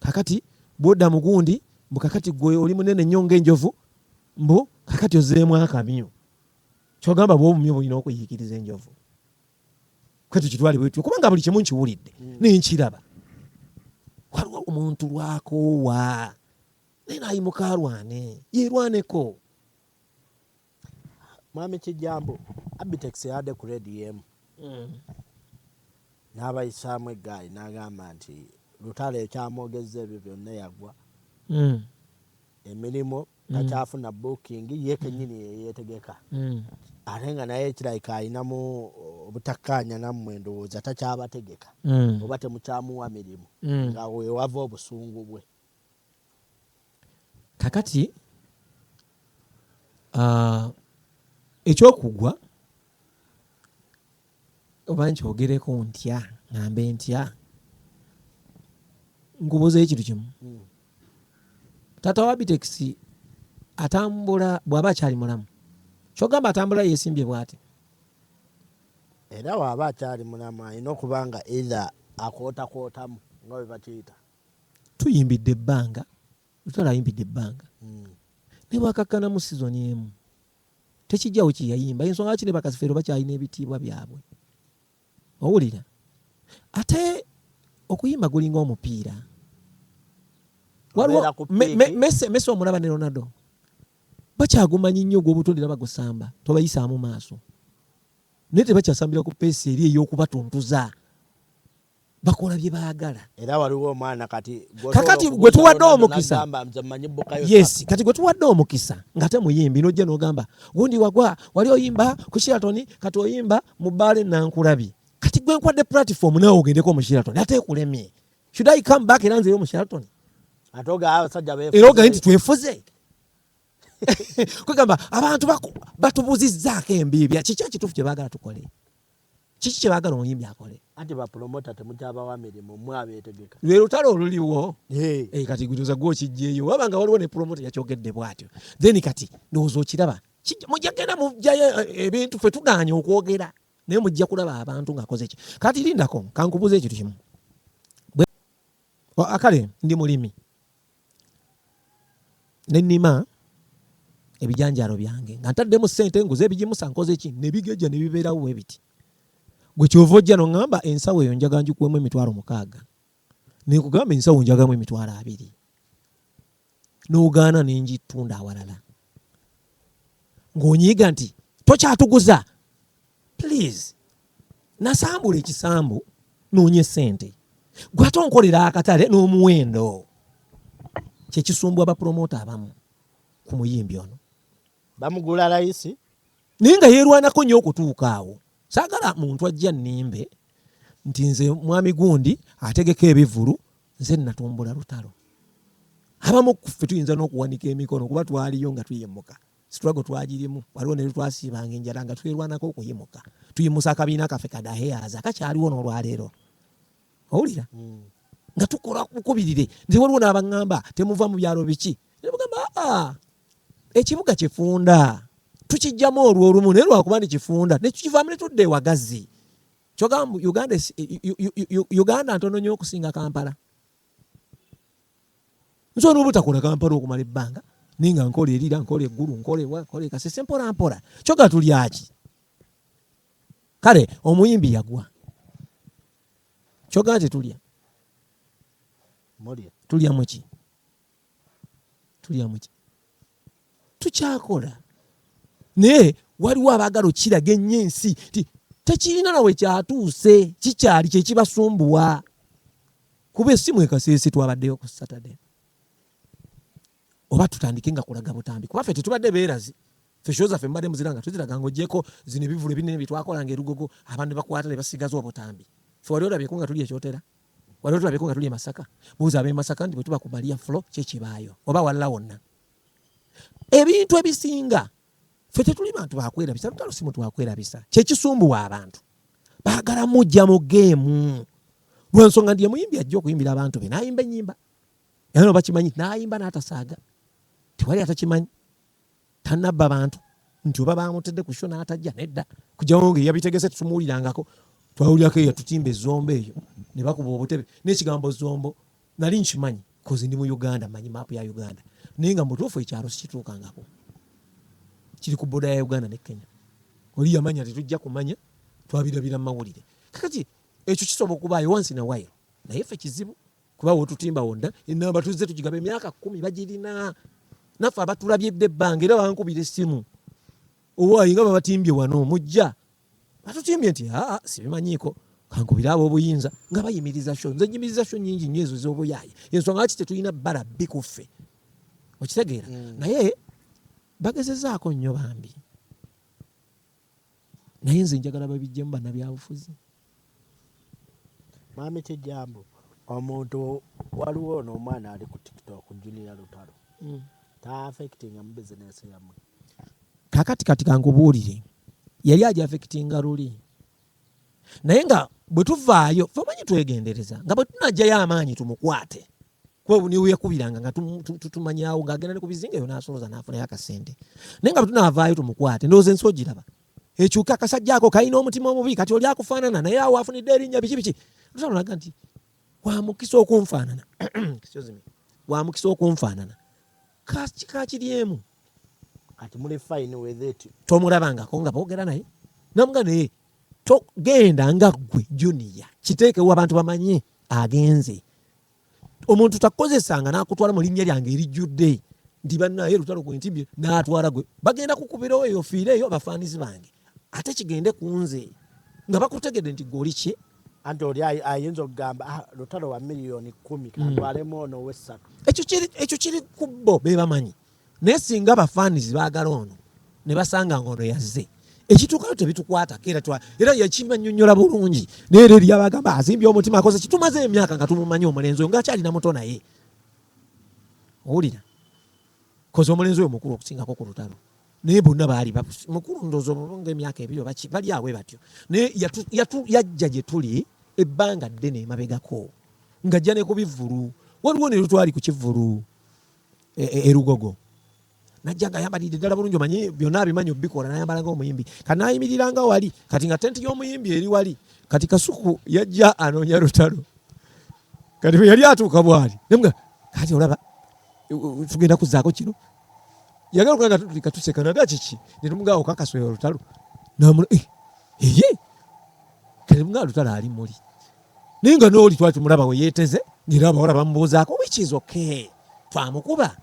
Kakati bwodda mugundi mbu kakati gwe oli munene nnyo ng'enjovu mbu kakati ozeemu akamyu kyogamba bwe obumyu bulina okuyiikiriza enjovu kwe tukitwale bwetyo kubanga buli kimu nkiwulidde mm. naye nkiraba waliwo omuntu lwakoowa naye naayimuka alwane yeerwaneko Mwami Kijjambu, Abitex yabadde ku leediyo emu n'abayisaamu eggaali n'agamba nti Lutale ekyamwogezza ebyo byonna yagwa emirimu takyafuna booking ye kennyini ye yeetegeka ate nga naye kirabika alinamu obutakkaanya nammwe ndowooza takyabategeka oba temukyamuwa mirimu nga we wava obusungu bwe. kakati uh, ekyokugwa oba nkyogereko ntya ngambe ntya nkubuuza ekintu kimu hmm. taata wa bitekisi atambula bw'aba akyali mulamu kyogamba atambula yesimbye bwati era waaba akyali mulamu alina okuba nga eitha akootakootamu nga bwe bakiyita tuyimbidde ebbanga lutalo ayimbidde ebbanga hmm. naye bwakakkanamu sizoni emu tekijjawo kyeyayimba ensonga lwaki ne bakasifeero bakyalina ebitiibwa byabwe owulira ate okuyimba gulinga omupiira waliwo mesi omulaba ne ronaldo bakyagumanyi nnyo ogw'obutonde era bagusamba tobayisaamu maaso naye tebakyasambira ku peesi eri ey'okubatuntuza bakola bye baagala era waliwo omwana kati kakati gwe tuwadde omukisa yes kati gwe tuwadde omukisa nga te muyimbi nojja nogamba gundi wagwa wali oyimba ku shiratoni kati oyimba mu bbaale nankulabi kati gwe nkwadde platform nawe ogendeko mu shiratoni ate ekulemye should i come back era nzeyo mu shiratoni era ogaye nti twefuze kwegamba abantu batubuzizaako embiibya kiki ekituufu kye baagala tukole Kiki kye baagala omuyimbi akole? Anti ba promoter temukyabawa mirimu mwe abeetegeka. Lwe lutalo oluliwo. Hey. Hey, eh, kati gutuza gwo kijjeyo. Waba nga waliwo ne promoter yakyogedde bwatyo. Then kati ndowooza okiraba. Mujja genda mujjayo eh, ebintu ffe tugaanye okwogera. Naye mujja kulaba abantu ng'akoze ki. Kati lindako kankubuuza ekintu kimu. Akale ndi mulimi. ne nnima ebijanjaalo byange nga ntaddemu ssente nguze ebigimusa nkoze ki ne bigejja ne bibeerawo bwe biti gwe kyova ojja noŋŋamba ensawo eyo njaga ngikuwemu emitwalo mukaaga ne nkugamba ensawo njagamu emitwalo abiri n'ogaana ne ngitunda awalala ng'onyiiga nti tokyatuguza please nasambula ekisambu noonye sente gwate onkolera akatale n'omuwendo kyekisumbwa bapromota abamu ku muyimbi ono bamugula layisi naye nga yeerwanako nnyo okutuuka awo saagala muntu ajja nnimbe nti nze mwami gundi ategeka ebivulu nze natumbula lutalo abamu kuffe tuyinza n'okuwanika emikono kuba twaliyo nga tuyimuka struggle twagirimu waliwo ne lutwasiibanga enjala nga twerwanako okuyimuka tuyimusa akabiina kaffe kadaheyaza akakyaliwo n'olwaleero owulira hmm. nga tukola bukubirire nze waliwo n'abaŋŋamba temuva mu byalo biki nemugamba aa ekibuga kifunda tukijjamu olwo olumu naye lwakuba ni kifunda netukivaamu ne tudda ewagazi kyogamba uganda ntono nyo okusinga kampala nsobola obutakola kampala okumala ebbanga naye nga nkola erira nkola eggulu nkola ewa nkola ekasese mpola mpola kyoga tulyaki kale omuyimbi yagwa kyoga nti tulya tulyamuki tulya muki tukyakola naye waliwo abaagala okukiraga ennyo ensi ti tekirina nawe kyatuuse kikyali kyekibasumbuwa kuba esimu ekaseese twabaddeyo ku saturday oba tutandike nga kulaga butambi kuba fe tetubadde beerazi Fe show zaffe mbadde muzira nga tuziraga ng'ogyeko zino ebivulu ebinene bye twakola ng'erugogo abantu ne bakwata ne basigaza obutambi. Fe wali olabyeko nga tuli ekyotera? Wali olabyeko nga tuli e Masaka? Buuza ab'e Masaka nti bwe tuba ku Maria Flo kye kibaayo oba walala wonna. Ebintu ebisinga fe tetuli bantu bakwerabisa lutalo si muntu wakwerabisa kye kisumbuwa abantu baagala mujja mu geemu lwensonga nti emuyimbi ajja okuyimbira abantu be n'ayimba ennyimba era no bakimanyi n'ayimba n'atasaaga tewali atakimanyi Tanabba bantu nti oba bamutedde ku sho n'atajja nedda kujawo nga eyabitegese tetumuwulirangako twawulirako eyo tutimba ezombo eyo ne bakuba obutebe n'ekigambo zombo nali nkimanyi kozi ndi mu uganda manyi maapu ya uganda naye nga mutuufu ekyalo sikituukangako kiri ku boda ya uganda ne kenya oli yamanya tetujja kumanya twabirabira mu mawulire kakati ekyo kisobola okubaayo wansi na wayiro naye ffe kizibu kuba wotutimba wonna enamba tuzze tugigaba emyaka kumi bagirina naffe abatulabyedde ebbanga era bankubira essimu owaayi nga babatimbye wano mujja batutimbye nti aa sibimanyiiko kankubire ab'obuyinza nga bayimiriza sho nze nyimiriza sho nyingi nnyo ezo z'obuyaaye ensonga lwaki tetulina bbala bbi ku ffe okitegeera mm. naye bagezezaako nnyo bambi naye nze njagala babijjemu banabyabufuzi mami kijambo omuntu waliwo ono omwana ali ku tiktok junior lutalo mm. ta affectinga mu business yamwe kakati kati kankubuulire yali aja affectinga luli naye nga bwe tuvaayo fe omanyi twegendereza nga bwe tunajayo amaanyi tumukwate kwebwe niwe yakubiranga nga tutumanyawo nga agenda ne ku bizinga eyo n'asoloza n'afunayo akasente naye nga bwetunaavaayo tumukwate ndowooza ensi ogiraba ekyuka akasajja ako kalina omutima omubi kati oli akufaanana naye awo afunidde erinnya biki biki tutanolaga nti wamukisa okunfaanana wamukisa okunfaanana kakiri emu kati muli fine with it tomulabangako nga boogera naye namuga naye togenda nga ggwe juniya kiteekewo abantu bamanye agenze omuntu takukozesanga nakutwala mu linnya lyange erijjudde nti bannaye lutalo gwe ntibye natwala gwe bagenda kukubirawo eyo fiire eyo abafaanizi bange ate kigende ku nze nga bakutegedde nti gwe oli ki anti oli ayinza okugamba ah, lutalo wa miliyoni kumi kantwalemu mm. ono wessatu ekyo kiri kubbo bebamanyi naye singa ba fans bagala ono ne basanga ngono yazze ekituukayo tebitukwata era twa era yakima nyonyola bulungi naye era eri abagamba azimbye omutima akoze kitumaze emyaka nga tumumanyi omulenzi oyo ngaakyalina muto naye owulira koze omulenzi oyo mukulu okusingako ku lutalo naye bonna baali mukulu ndoozi omulunga emyaka ebiri obaki bali awe batyo naye yajja gye tuli ebbanga ddene emabegako ng'ajja ne ku bivvulu waliwo ne lutwali ku kivvulu e, e, erugogo najja nga ayambalidde ddala bulungi omanyi byonna abimanyi obikola nayambala nga omuyimbi kati nayimirira nga wali kati nga tenti y'omuyimbi eri wali kati kasuku yajja anoonya lutalo kati bwe yali atuuka bwali nemga kati olaba tugenda kuzaako kino yagala okuga nga tutulika tuseka naga kiki netumugaa okakaswera olutalo namula eh, eye kati mga lutalo ali muli naye nga n'oli twali tumulaba we yeeteze ng'era abawala bamubuuzaako which is okay twamukuba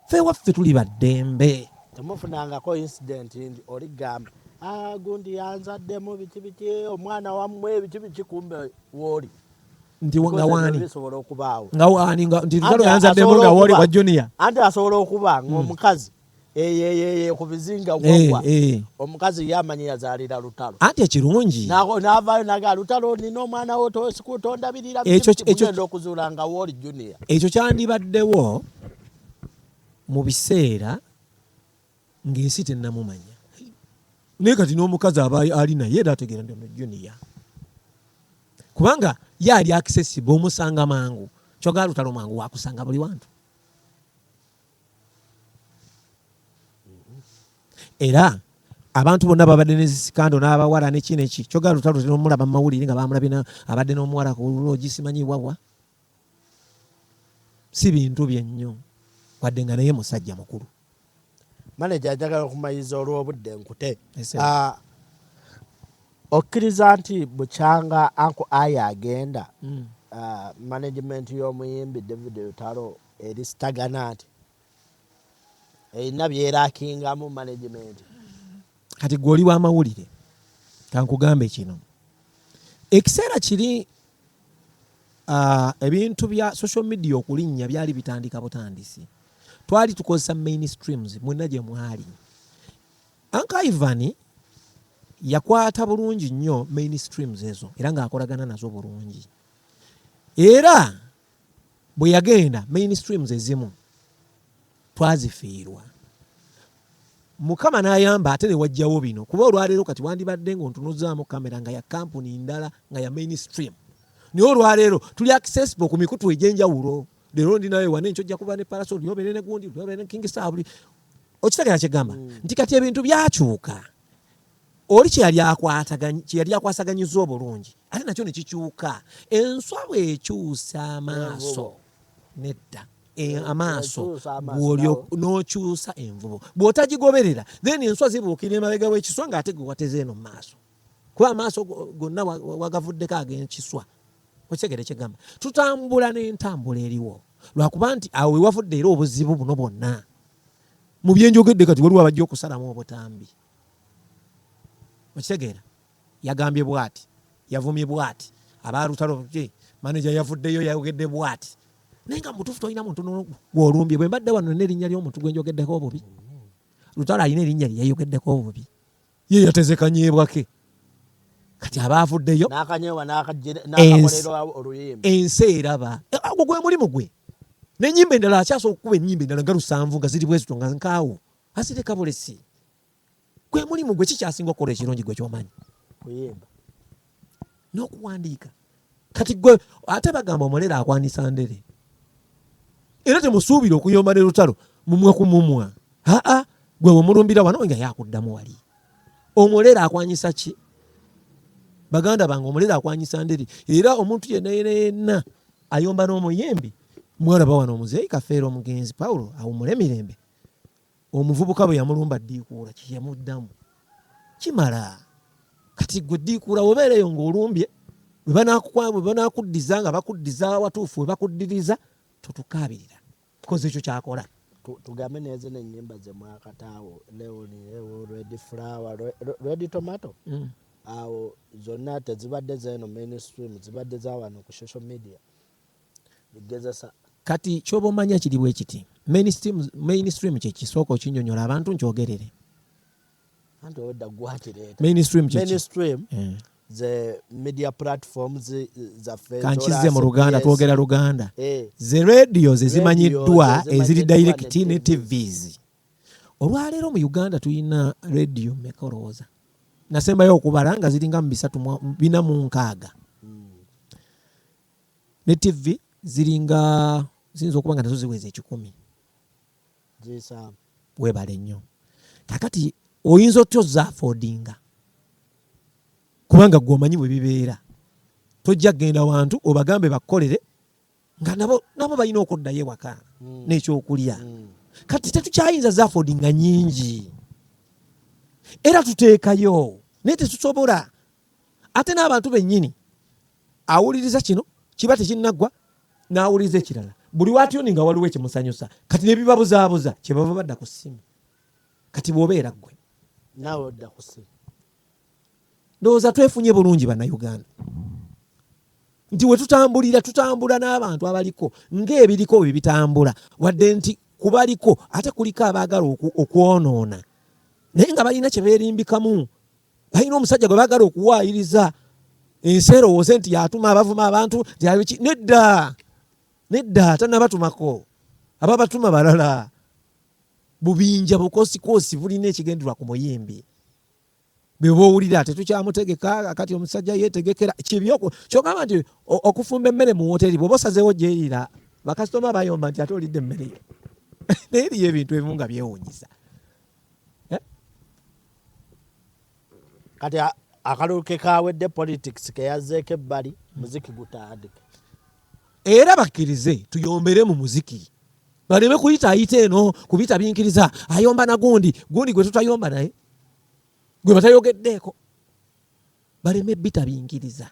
fe waffe tuli baddembe temufunangako incident ndi oli gamba ah, gundi yanzaddemu biki biki omwana wamwe biki biki kumbe wooli nti nga waani nga waani nti lutalo yanzaddemu nga wooli wa junior anti asobola okuba ng'omukazi mm. eyeyeeye ku bizinga eh, wagwa eh. omukazi ye amanyi yazaalira lutalo anti ekirungi navayo naga lutalo nina omwana wo tondabirira genda okuzuula nga wooli junior ekyo kyandibaddewo mu biseera ng'ensi tennamumanya naye kati n'omukazi aba ali naye era ategeera nti ono junior kubanga ye ali accessible omusanga mangu kyogala lutalo mangu wakusanga buli wantu era abantu bonna babadde nezisikando n'abawala neki neki kyogera lutalo tenomulaba mumawulire nga bamulabina abadde n'omuwala kulogi simanyi wawa si bintu byennyo wadde nga naye musajja mukulu maneja ajagala okumayiza olw'obudde nkute ah, okkiriza nti bukyanga anku aya agenda hmm. ah, management y'omuyimbi david lutalo erisitagana nti erina byerakingamu management kati gwe oli wamawulire kankugambe kino ekiseera kiri ebintu bya social media okulinnya byali bitandika butandisi twali tukozesa main streams mwena gye mwali anka ivani yakwata bulungi nnyo main streams ezo era ng'akolagana nazo bulungi era bwe yagenda main streams ezimu twazifiirwa mukama n'ayamba ate ne wajjawo bino kuba olwaleero kati wandibadde ng'ontunuzaamu kamera nga ya kampuni ndala nga ya main stream naye olwaleero tuli accessible ku mikutu egy'enjawulo leero ndi nawe wane nkyojja kuba ne parasol lyobere ne gundi lyobere ne king star buli okitegera kyegamba mm. nti kati ebintu byakyuka oli kye yali akwataganya kye yali akwasaganyizza obulungi ate nakyo ne kikyuka enswa bw'ekyusa amaaso nedda e, amaaso n'okyusa envubo bw'otagigoberera then enswa zibuukira emabega w'ekiswa ng'ate gwe wateze eno mu maaso kuba amaaso gonna wagavuddeko ag'ekiswa okitegere kyegamba tutambula n'entambula eriwo lwakuba nti awo wewavudde era obuzibu buno bwonna mu byenjogedde kati waliwo abajja okusalamu obutambi okitegeera yagambye bwati yavumye bwati abalutalo maneja yavuddeyo yayogedde bwati naye nga mubutuufu tolina muntu gwolumbye bwe mbadde wano nerinnya lyomuntu gwenjogeddeko obubi lutalo alina erinnya lye yayogeddeko obubi ye yatezekanyeebwake kati aba avuddeyo ensi eraba eh, ogwo gwe mulimu gwe nenyimba endala akyasobola okukuba enyimba endala nga lusanvu nga ziri bwezito nga nkaawo Asirika bulesi gwe mulimu gwe kikyasinga okukola ekirungi gwe kyomanyi kuyimba n'okuwandiika kati gwe ate bagamba omulere akwanisa ndere era temusuubira okuyomba ne lutalo mumwe ku mumwa aa gwe wemulumbira wano nga yakuddamu wali omulere akwanyisa ki baganda bange omulere akwanyisa ndere era omuntu yenna yena yenna ayomba n'omuyimbi mwalaba wano omuzeeyi kafeera omugenzi pawulo awumule mirembe omuvubuka bwe yamulumba ddiikuula kye yamuddamu kimala kati gwe ddiikuula obeera eyo ng'olumbye bwe banaakuddiza nga bakuddiza awatuufu we bakuddiriza totukaabirira koze ekyo kyakola tugambe nezo nenyimba zemwakataawo leoni red flower red tomato mm. awo zonna tezibadde zeno mainstream zibadde zawano ku social media kati kyoba omanya kiri bwe kiti mainstream, mainstream kyekisooka okinyonyola abantu nkyogerere mainstream mainstream eh. ze media platforms eh, zaffe kankize mu luganda twogera luganda eh. ze radio ze zimanyiddwa eziri direct ne tvs olwaleero mu uganda tulina radio meka olowooza nasembayo okubala nga ziringa mu bisatu bina mu nkaaga ne TV ziringa ziyinza okuba nga nazo ziweza ekikumi zisaamu webale nnyo kakati oyinza otya ozafodinga kubanga gwe omanyi bwe bibeera tojja kugenda wantu obagambe bakukolere nga nabo nabo balina okuddayo ewaka hmm. n'ekyokulya hmm. kati tetukyayinza zafodinga nyingi era tuteekayo naye tetusobola ate n'abantu bennyini awuliriza kino kiba tekinnaggwa n'awuliriza ekirala buli watyuni nga waliwo ekimusanyusa kati ne bibabuzaabuza kye bava badda ku ssimu kati bw'obeera ggwe naawe odda ku ssimu ndowooza twefunye bulungi bannayuganda nti we tutambulira tutambula n'abantu abaliko ng'ebiriko bye bitambula wadde nti kubaliko ate kuliko abaagala okwonoona naye nga balina kye beerimbikamu balina omusajja gwe bagala okuwaayiriza ensi erowooze nti yatuma abavuma abantu yabiki nedda nedda tanabatumako aba batuma balala bubinja bukoosikoosi bulina ekigenderwa ku muyimbi bwebowulira tetukyamutegeka kati omusajja yetegekera kibyoko kyogamba nti okufumba emmere mu woteri bwoba osazewo gyeriira bakasitoma bayomba nti ate olidde emmere yo naye eriyo ebintu ebimu nga byewunyisa eh? kati akalulu ke kawedde politics keyazzeeko ebbali muziki gutandike era bakkirize tuyombere mu muziki baleme kuyita ayita eno kubita binkiriza ayomba na gundi gundi gwe tutayomba naye gwe batayogeddeeko baleme bita binkiriza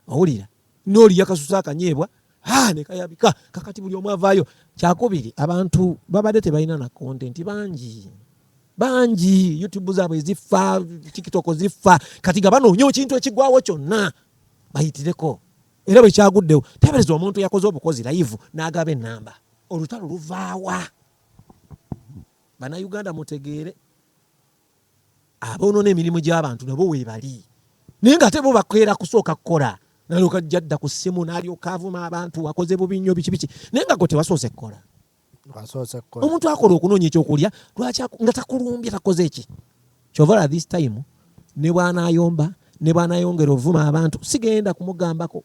owulira nooli yakasusa akanyeebwa ah, nekayabika kakati buli omu avaayo kyakubiri abantu babadde tebalina na kontenti bangi bangi youtube zaabwe eziffa tiktok ziffa kati nga banoonya ekintu ekigwawo kyonna bayitireko era bwe kyaguddewo tebereza omuntu yakoze obukozi layivu n'agaba enamba olutalo luvaawa banauganda mutegeere aboonona emirimu gy'abantu nabo weebali naye nga ate bo bakeera kusooka kukola nalyoka ajja dda ku ssimu nalyoka avuma abantu wakoze bubi nnyo biki biki naye nga gwe tewasoose kukola omuntu akola okunoonya ekyokulya lwaki nga takulumbye takoze eki kyovala this time ne bwanayomba ne bwanayongera ovuma abantu sigenda kumugambako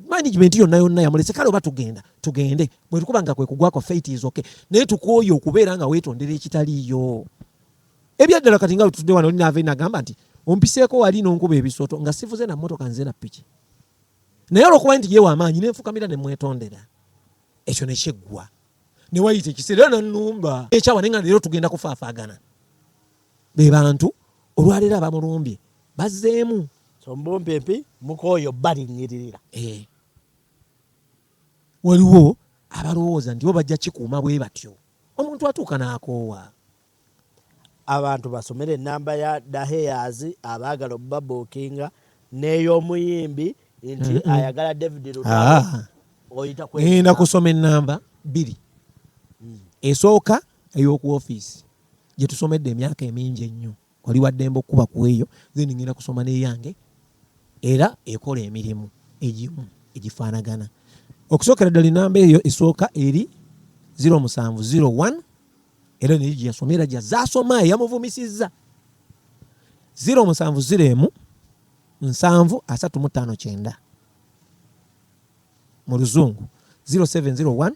management yonna yonna yamulese kale oba tugenda tugende bwetukuba nga kwekugwako fate is okay naye tukwoye okubeera nga wetondera ekitaliiyo ebyaddala kati nga wetutudde wano oli naava nagamba nti ompiseeko wali nonkuba ebisooto nga sivuze na mmotoka nze na piki naye olwokuba nti yewa amaanyi nenfukamira nemwetondera ekyo nekyeggwa newayita ekiseera era nanumba ekyawa naye nga leero tugenda kufaafagana be bantu olwaleero abamulumbye bazzeemu sombumpipi mukooyo balinyiririra eh. waliwo abalowooza nti bo bajja kikuuma bwe batyo Omuntu atuuka n'akoowa. Abantu basomere ennamba ya Da Heyaz abaagala okubabuukinga n'ey'omuyimbi nti ayagala David Lutalo ah. oyita kwe. Ngenda kusoma ennamba bbiri. Hmm. Esooka ey'oku ofiisi gye tusomedde emyaka emingi ennyo. Oli waddembe okukuba ku eyo then ngenda kusoma n'eyange era ekola emirimu egimu egifaanagana. Okusookera ddala ennamba eyo esooka eri 0701 era naye gye yasoma era gyazze asoma eyamuvumisizza 0701 nsanvu asatu mu ttaano kyenda. mu luzungu 0701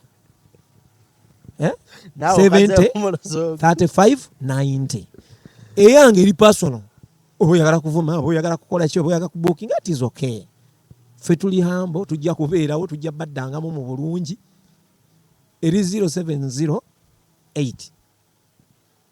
eh? 70 35 90 eyange eri personal oba oyagala kuvuma oba oyagala kukola ki oba oyagala kubukinga it is okay ffe tuli hambo tujja kubeerawo tujja baddangamu mu bulungi eri 0708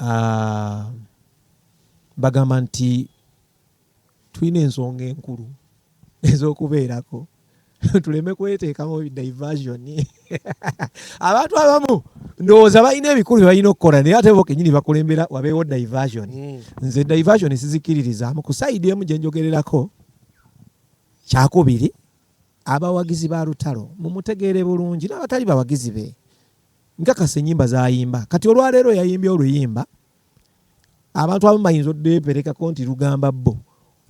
Aah bagamba nti tulina ensonga enkulu ezokubeerako tuleme kweteekamu diversion abantu abamu ndowooza balina ebikulu byebalina okukola naye ate bo kenyini bakulembera wabeewo diversion hmm. nze diversion sizikiririzamu ku saidi emu gyenjogererako kyakubiri abawagizi ba lutalo mumutegeere bulungi n'abatali bawagizi be nkakasa enyimba zayimba kati olwaleero yayimbye oluyimba abantu abamu bayinza odeperekako nti lugamba bo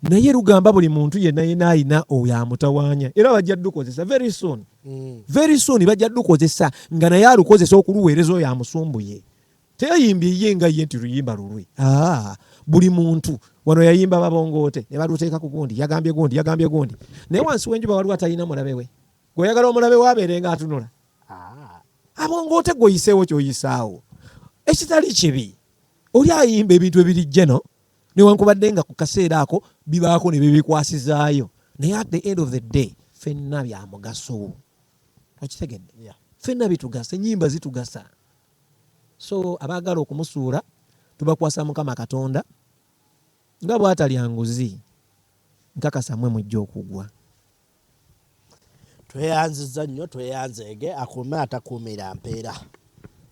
naye lugamba buli muntu yena yena ayina oyo amutawanya era bajja dukozesa very soon mm. very soon bajja dukozesa nga naye alukozesa okuluweereza oyo amusumbuye teyayimbye ye nga ye nti luyimba lulwe ah, buli muntu wano yayimba babongoote ne baluteeka ku gundi yagambye gundi yagambye gundi naye wansi w'enjuba waliwo atalina mulabe we gweoyagala omulabe wabeere nga atunula ah. abo ngaote gweoyiseewo kyoyisaawo ekitali kibi oli ayimba ebintu ebirijjeno newankubadde nga ku kaseera ako bibaako ne bibikwasizaayo naye at the end of the day fenna byamugaso okitegedde fenna bitugasa enyimba zitugasa so abaagala okumusuula tubakwasa mukama katonda nga bwatalya nguzi nkakasa mwe mujja okugwa Tweyanziza nnyo tweyanzeege akuume atakuumira mpeera.